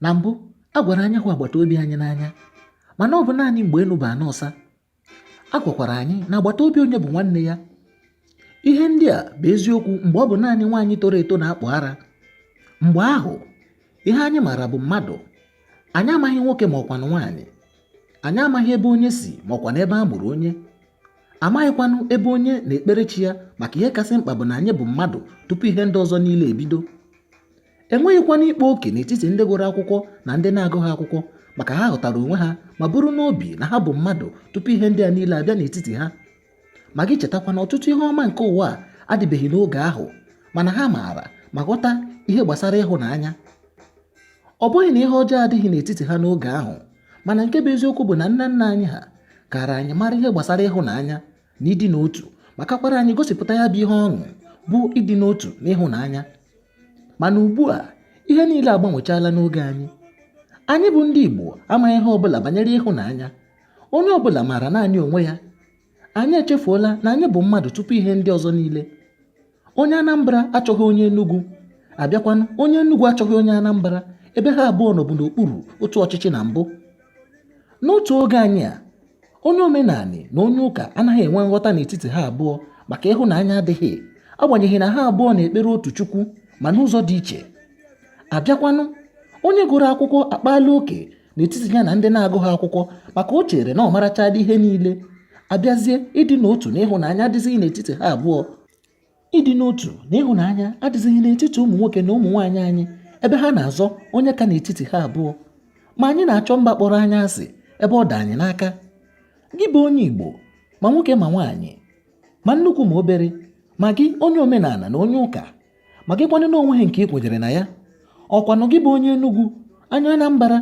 na mbụ a gwara anyị hụ agbata obi anyị n'anya mana ọ bụ naanị mgbe enu bụ ana ọsa a gwakwara anyị na agbata obi onye bụ nwanne ya ihe ndị a bụ eziokwu mgbe ọ bụ naanị nwaanyị toro eto na-akpụ ara mgbe ahụ ihe anyị maara bụ mmadụ anyị amaghị nwoke ma ọkwanụ nwaanyị anyị amaghị ebe onye si ma ọkwanụ ebe a mụrụ onye amaghịkwanụ ebe onye na-ekpere chi ya maka ihe kasị mkpa bụ na anyị bụ mmadụ tupu ihe ndị ọzọ niile ebido enweghịkwanụ ịkpa oke n'etiti ndị gụrụ akwụkwọ na ndị na-agụghị akwụkwọ maka ha ghọtara onwe ha ma buru n'obi na ha bụ mmadụ tupu ihe ndị a niile abịa n'etiti ha ma gị chetakwa na ọtụtụ ihe ọma nke ụwa a adịbeghị n'oge ahụ mana ha maara ma ghọta ihe gbasara ịhụnanya ọ bụghị na ihe ọjọọ adịghị n'etiti ha n'oge ahụ mana nke bụ eziokwu bụ na nna nna anyị ha kara anyị mara ihe gbasara ịhụnanya na ịdị n'otu ma kakwara anyị gosipụta ya bụ ihe ọṅụ bụ ịdị n'otu na ịhụnanya mana ugbu a ihe niile agbanwechala n'oge anyị anyị bụ ndị Igbo amaghị ihe ọbụla banyere ịhụnanya onye ọbụla maara naanị onwe ya Anyị echefuola na anyị bụ mmadụ tupu ihe ndị ọzọ niile. Onye Anambra achọghị onye Enugwu, abịakwanụ onye Enugwu achọghị onye Anambra ebe ha abụọ nọbụ n'okpuru otu ọchịchị na mbụ. N'otu oge anyị a, onye omenanị na onye ụka anaghị enwe nghọta n'etiti ha abụọ maka ịhụnanya adịghị agbanyeghị na ha abụọ na-ekpere otu Chukwu ma n'ụzọ dị iche. Abịakwanụ, onye gụrụ akwụkwọ akpaala oke n'etiti ya na ndị na-agụghị akwụkwọ maka o chere na ọ marachadị ihe niile abịazie ịdị n'otu na ịhụnanya adịzighị n'etiti ha abụọ ịdị n'otu na ịhụnanya adịzighị n'etiti ụmụ nwoke na ụmụ nwaanyị anyị ebe ha na-azọ onye ka n'etiti ha abụọ ma anyị na-achọ mba kpọrọ anyị asị ebe ọ dị anyị n'aka gị bụ onye Igbo ma nwoke ma nwaanyị ma nnukwu ma obere ma gị onye omenana na onye ụka ma gị kwanụ na onweghị nke i kwenyere na ya ọkwanụ gị bụ onye Enugwu onye Anambra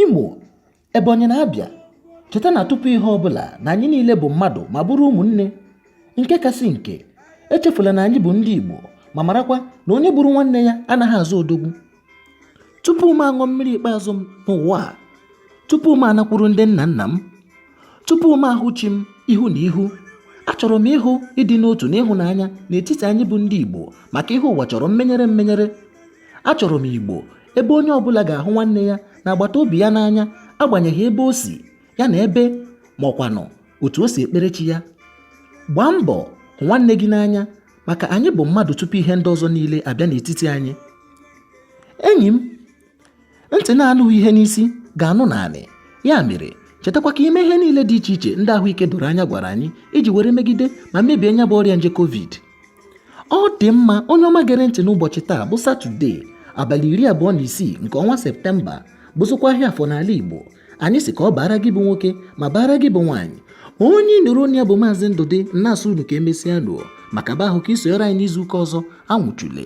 Imo Ebonyi na Abịa cheta na tupu ihe ọ bụla na anyị niile bụ mmadụ ma bụrụ ụmụnne nke kasị nke echefula na anyị bụ ndị Igbo ma marakwa na onye gburu nwanne ya anaghị aza odogwu tupu m aṅụ mmiri ikpeazụ m n'ụwa a tupu m anakwuru ndị nna nna m tupu m ahụ chi m ihu na ihu achọrọ m ịhụ ịdị n'otu na ịhụnanya n'etiti anyị bụ ndị Igbo maka ihe ụwa chọrọ mmenyere mmenyere achọrọ m Igbo ebe onye ọbụla ga-ahụ nwanne ya na agbata obi ya n'anya agbanyeghị ebe o si ya na ebe ma ọkwanụ otu o si ekpere chi ya gbaa mbọ hụ nwanne gị n'anya maka anyị bụ mmadụ tupu ihe ndị ọzọ niile abịa n'etiti anyị enyi m ntị na-anụghị ihe n'isi ga-anụ n'anị ya mere chetakwa ka i mee ihe niile dị iche iche ndị ahụike doro anya gwara anyị iji were megide ma mebie nya bụ ọrịa nje covid ọ dị mma onye ọma gere ntị n'ụbọchị taa bụ satọde abalị iri abụọ na isii nke ọnwa septemba bụzụkwa ahịa afọ n'ala igbo anyị sị ka ọ baara gị bụ nwoke ma baara gị bụ nwaanyị onye ị nụrụ onu ya bụ maazị ndụdị na-asị unu ka emesịanụ ọ maka be ahụ ka i sonyere anyị n'izu ụka ọzọ anwụchule